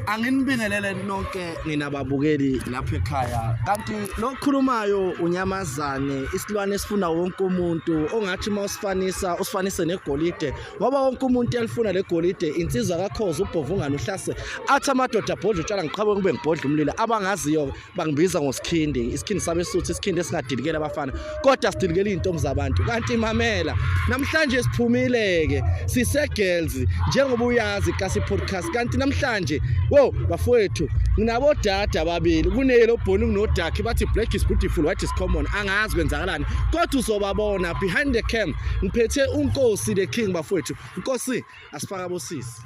anginibingelele nonke ninababukeli lapha ekhaya kanti lokhulumayo unyamazane isilwane esifuna wonke umuntu ongathi uma usifanisa usifanise negolide ngoba wonke umuntu uyalifuna legolide insizwa kakhoza ubhovungane uhlase athi amadoda abhodla utshwala ngiqhabe kube ngibhodla umlilo abangaziyo bangibiza ngosikhindi isikhindi sabesuthu isikhindi esingadilikelela abafana kodwa sidilikela izintombi zabantu kanti imamela namhlanje siphumile-ke sise-girls njengoba uyazi kasi podcast kanti namhlanje wo bafowethu nginabodada ababili kuneyelo obhoni kunodakhe bathi black is beautiful white is common angazi kwenzakalani kodwa uzobabona behind the cam ngiphethe unkosi the king bafowethu nkosi asifaka bosisi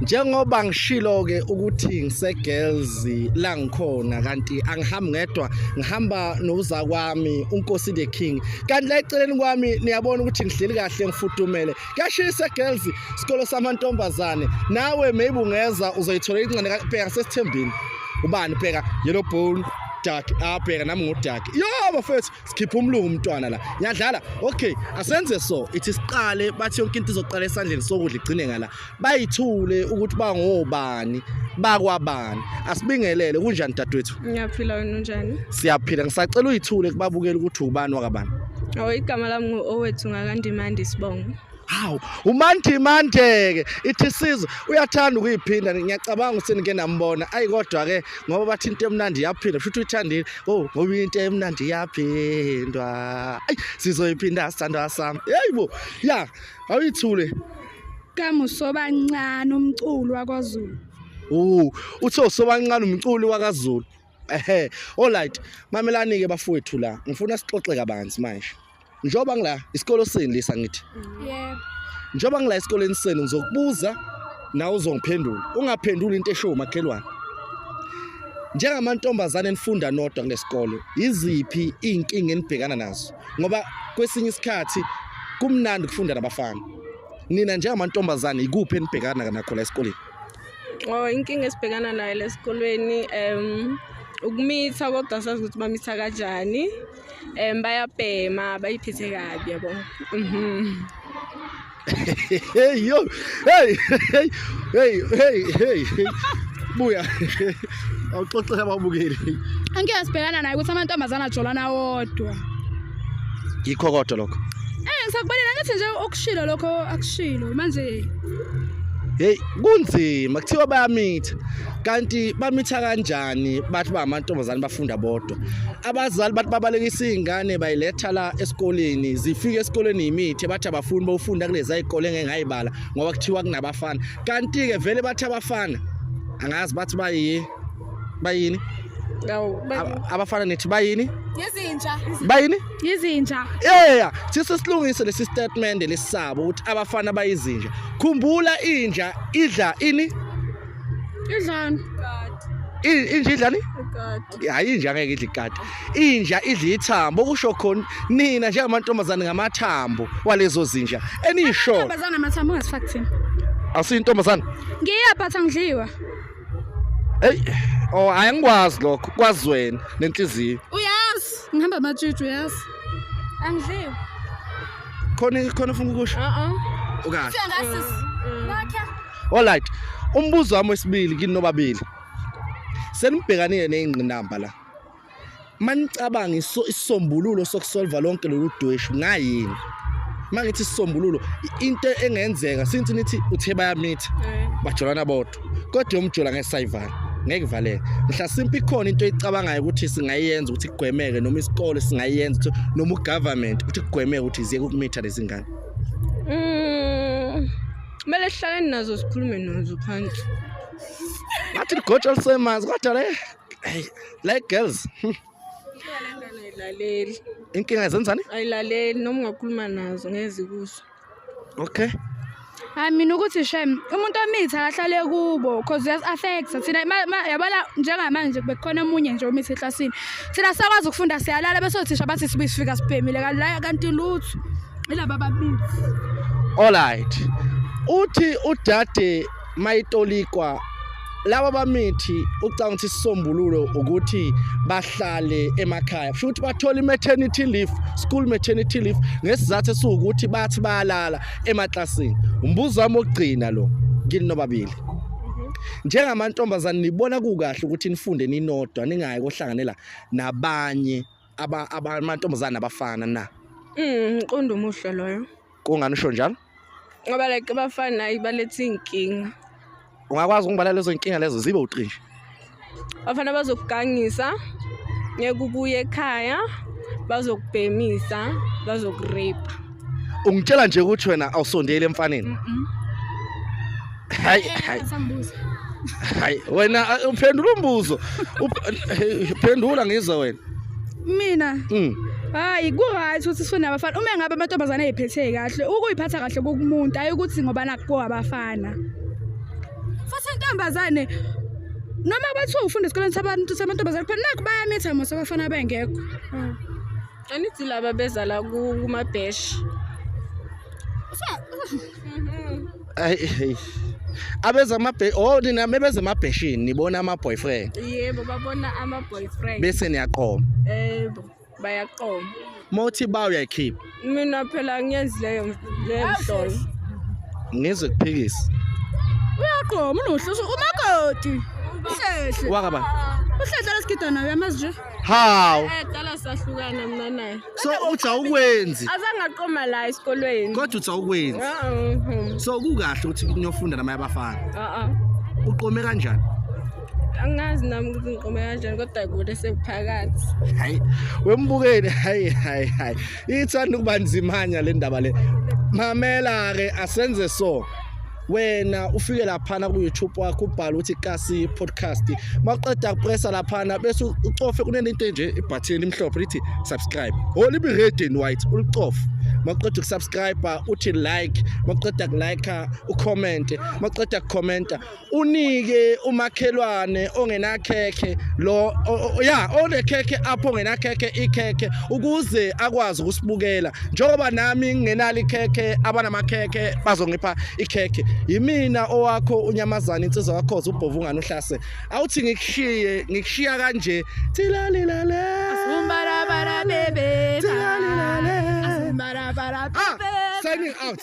njengoba ngishilo ke ukuthi ngisegirls la ngikhona kanti angihambi ngedwa ngihamba noza kwami unkosi the king kanti la eceleni kwami niyabona ukuthi ngihleli kahle ngifudumele kuyashisa girls isikolo samantombazane nawe maybe ungeza uzoyithola incane kabheka sesithembini ubani bheka yellow bone dark abheka ah, nami ngu dark yo bafethu sikhipha umlungu umntwana la ngiyadlala okay asenze so ithi siqale bathi yonke into izoqala esandleni sokudla igcine ngala bayithule ukuthi bangobani bakwabani asibingelele kunjani dadwethu ngiyaphila wena unjani siyaphila ngisacela uyithule kubabukela ukuthi ubani wakabani awu igama lami ngu-owethu ngakandimandi sibongo hawu umandimandeke ithi sizo uyathanda ukuyiphinda ngiyacabanga ukuthi nike nambona ayi kodwa-ke ngoba bathi into emnandi iyaphindwa futhi uyithandile o oh, ngoba into emnandi iyaphindwa ayi sizoyiphinda sithandwa sami yeyi bo ya awuyithule kamusobancane umculo wakwazulu o oh, uthe usobancane umculi wakazulu ehe alright mamelani ke bafowethu la ngifuna sixoxe kabanzi manje njoba ngila isikolo sini lisa ngithi yebo njoba ngila esikoleni senu ngizokubuza nawe uzongiphendula ungaphenduli into eshow makhelwane njengamantombazane enifunda nodwa kulesikole iziphi izinkinga enibhekana nazo ngoba kwesinye isikhathi kumnandi ukufunda nabafana nina njengamantombazane ikuphi enibhekana nakho la esikoleni Oh inkinga esibhekana nayo lesikolweni um ukumitha kodwa sazi ukuthi bamitha kanjani um bayabhema bayiphethe kabi yabo mhm. hey yo hey hey hey hey buya awuxoxela ababukeli angeke sibhekana naye ukuthi amantombazana ajolana wodwa yikho kodwa lokho eh ngisakubalela ngathi nje okushilo lokho akushilo manje hey kunzima kuthiwa bayamitha kanti bamitha kanjani bathi ba amantombazane bafunda bodwa abazali bathi babalekisa izingane bayiletha la esikoleni zifike esikoleni imithi bathi abafuni bofunda kulezi ayikole ngeke ngayibala ngoba kuthiwa kunabafana kanti ke vele bathi abafana angazi bathi bayi bayini abafana nethi bayini yizinja bayini yizinja yeah sise silungise lesi statement lesisabo ukuthi abafana bayizinja khumbula inja idla ini idlani inja idlani hayi inja ngeke idle ikati inja idla ithambo kusho khona nina njengamantombazane ngamathambo walezo zinja eniyisholo Intombazana amathambo ungasifaki thina. asiyintombazane Ngiyaphatha ngidliwa. hey oh hayi angikwazi lokho kwazi wena nenhliziyo Uyazi ngihamba amatshutshu uyazi. Angidliwa. khona khona ufuna ukusho Uh-uh. ukahle Fika ngasisi. Nakhe. alright umbuzo wami wesibili kini nobabili senibhekanile neyingqinamba la manicabanga isisombululo sokusolva lonke lolu dweshu ngayini mangithi isisombululo into engenzeka since nithi uthe bayamitha eh. bajolana bodwa kodwa yomjola ngesayivala ngeke valeke mhlasimpe ikhona into eyicabangayo ukuthi singayenza ukuthi kugwemeke noma isikole singayenza ukuthi noma ugovernment ukuthi kugwemeke ukuthi ziyeke ukumitha lezi ngane mm, kumele sihlale nazo sikhulume nazo phansi ngathi ligotsha lisemanzi kodwa le le girls ayilaleli inkinga zenzani ayilaleli noma ungakhuluma nazo ngeze kuso okay hayi mina ukuthi shem umuntu omitha akahlale kubo cause yes affect thina yabona njengamanje bekukhona omunye nje omitha eklasini thina sakwazi ukufunda siyalala bese othisha bathi sibuye sifika sibhemile kanti kanti lutho ilaba babili all right uthi udade mayitolikwa laba bamithi ucanga ukuthi sisombululo ukuthi bahlale emakhaya futhi bathola i-maternity leave school maternity leave ngesizathu esiwukuthi bathi bayalala emaklasini umbuzo wami wokugcina lo kini nobabili njengamantombazane nibona kukahle ukuthi nifunde ninodwa ningayi kohlanganela nabanye amantombazane abafana na mm, mqondo umuhle loyo kungani usho njalo ngoba like abafana ibaletha iy'nkinga ungakwazi ukungibala lezo nkinga lezo zibe uqinshi abafana bazokugangisa ngeke ubuye ekhaya bazokubhemisa bazokurepa ungitshela nje ukuthi wena awusondeli emfaneni hayi hayi hayi wena uh, uphendula umbuzo phendula ngizwe wena mina Mm. hayi ku-right ukuthi sifune abafana uma ngabe amantombazane eyiphethe kahle ukuyiphatha kahle kukumuntu ayi ukuthi ngoba nakuko abafana futhi intombazane noma bathiwa ufunda esikoleni sabantu samantombazane kuphela nakho bayamitha mose abafana bengekho Anithi laba beza la ku- kumabheshi. ayi abeza amabhe oh nina mebeza amabheshini nibona ama boyfriend yebo babona ama boyfriend bese niyaqoma yebo bayaqoma mothi ba uyayikhipha mina phela ngiyenzi leyo leyo mhlolo ngizwe kuphikisa uyaqoma unohluso umakoti uhlehle wakaba uhlehle lesigidana uyamazi nje Hawu. Ayaqala sahlukana mina naye. So uthi awukwenzi. Azange aqoma la esikolweni. Kodwa uthi awukwenzi. Uh-uh. So kukahle ukuthi niyofunda namanye abafana. Uh-uh. Uqome kanjani? angazi nami ukuthi ngiqome kanjani kodwa kude sekuphakathi hayi wembukeni hayi hayi hayi ithanda ukuba nzimanya le ndaba le mamela-ke asenze so wena ufike laphana ku-youtube wakho ubhale ukuthi kasi podcast maqeda kupressa laphana bese ucofe kunento enje ibhathini elimhlophe lithi subscribe o oh, libi red and white ulicofe maqeda ukusubscribe uthi like maqeda kulike ucommente maqeda kucomenta unike umakhelwane ongenakhekhe lo ya onekhekhe apho ongenakhekhe ikhekhe ukuze akwazi ukusibukela njengoba nami ngingenalo ikhekhe abanamakhekhe bazongipha ikhekhe yimina owakho unyamazana insizwa kakhoza ubhovu ungani uhlase awuthi ngikushiye ngikushiya kanje thilalilale Asumbarabara bebe. Thilalilale. Asumbarabara Ah, bebe. signing out